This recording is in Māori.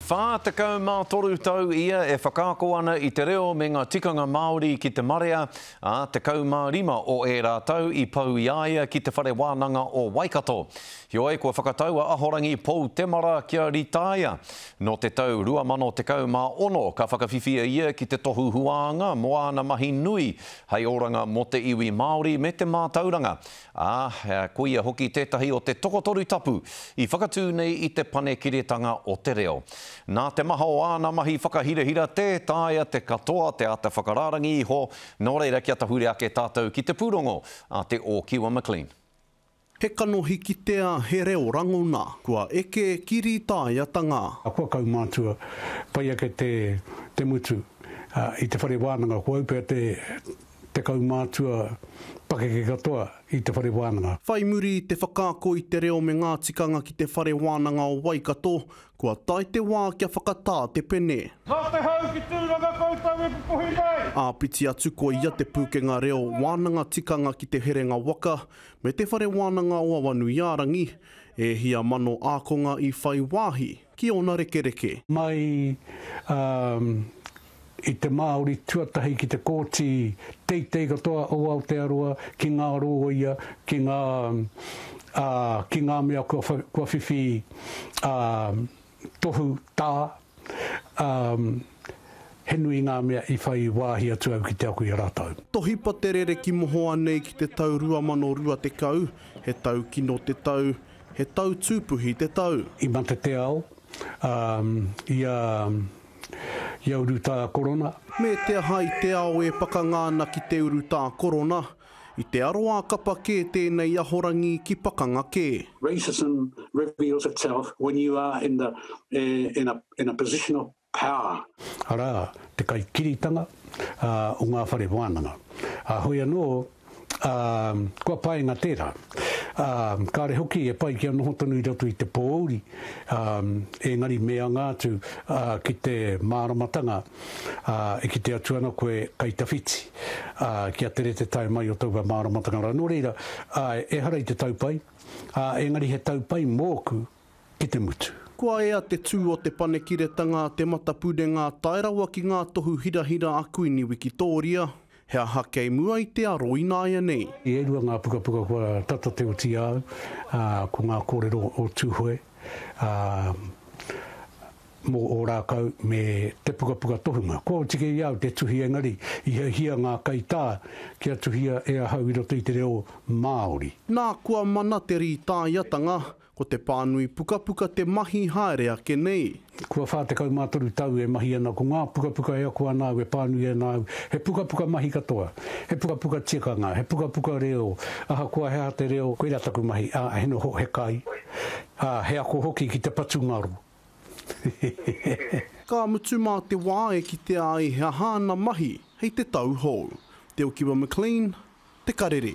43 tau ia e whakaako ana i te reo me ngā tikanga Māori ki te marea, ā, 15 o ērā tau i pau i a ia ki te Whare Wānanga o Waikato. Heoi, kua whakatau a Ahorangi Pou Temara kia rītaia. Nō te tau 2016 ka whakawhiwhia ia ki te tohu huānga mō āna mahi nui hei oranga mō te iwi Māori me te mātauranga. ā, koia hoki tētahi o te tokotoru tapu i whakatū nei i te Panekiretanga o te Reo. Nā te maha o āna mahi whakahirahira tē taea te katoa te āta whakarārangi iho, nō reira kia tahuri ake tātou ki te pūrongo a Te Ōkiwa McLean. He kanohi kitea, he reo rangona, kua eke ki rītāiatanga. Kua kaumātua pai ake te mutu. I te whare wānanga, kua upea te Te kaumātua pakeke katoa i te whare wānanga. Whai muri i te whakaako i te reo me ngā tikanga ki te Whare Wānanga o Waikato, kua tae te wā kia whakatā te pene. Nā te hau ki Tūranga koutou e pupuhi nei! Āpiti atu ko ia te pūkenga reo wānanga tikanga ki Te Herenga Waka me Te Whare Wānanga o Awanuiārangi, e hia mano ākonga i whai wāhi ki ōna rekereke. Mai, ā. i te Māori tuatahi ki te kōti teitei katoa o Aotearoa ki ngā rōia, ki ngā, ā, ki ngā mea kua wha, kua whiwhi, ā, tohu tā, ā, he nui ngā mea i whai wāhi atu au ki te ako i a rātou. Tohipa te rere ki mohoa nei ki te tau 2020, he taukino te tau, he tau tūpuhi te tau. I mate te ao, ā, ia. Ia urutā korona. Me te aha i te ao e pakanga ana ki te urutā korona, i te aroā kapa kē tēnei ahorangi ki pakanga kē. Racism reveals itself when you are in the in a in a position of power. Arā, te kaikiritanga o ngā whare wānanga. Ā, hoi anō, Ā, kua paenga tērā. Ā, kāre hoki e pai kia noho tonu i roto i te pōuri, ā, engari me anga atu, ā, ki te māramatanga, ā, e kite atu ana koe kei tawhiti, ā, kia tere te tae mai o taua māramatanga rā. Nō reira, ā, ehara i te tau pai, ā, engari he tau pai mōku ki te mutu. Kua ea te tū o Te Panekiretanga, te matapurenga, tae rawa ki ngā tohu hirahira a Kuini Wikitōria. He aha kei mua i te aro ināianei? E rua ngā pukapuka kua tata te oti au, ā, ko ngā kōrero o Tūhoe, ā, mō Ōrākau me te pukapuka tohunga. Kua oti kei a au te tuhi engari i hiahia ngā kaitā kia tuhia e ahau i roto i te reo Māori. Nā, kua mana te rītāiatanga, Ko te pānui pukapuka te mahi haere ake nei. Kua 43 tau e mahi ana ko ngā pukapuka e ako ana au e pānui ana au, he pukapuka mahi katoa, he pukapuka tikanga, he pukapuka reo, ahakoa he aha te reo, koirā taku mahi, ā, he noho, he kai, ā, he ako hoki ki te patu ngaro. Hehehehe. Ka mutu mā te wā e kitea ai he aha ana mahi hei te tau hou. Te Okiwa McLean, Te Karere.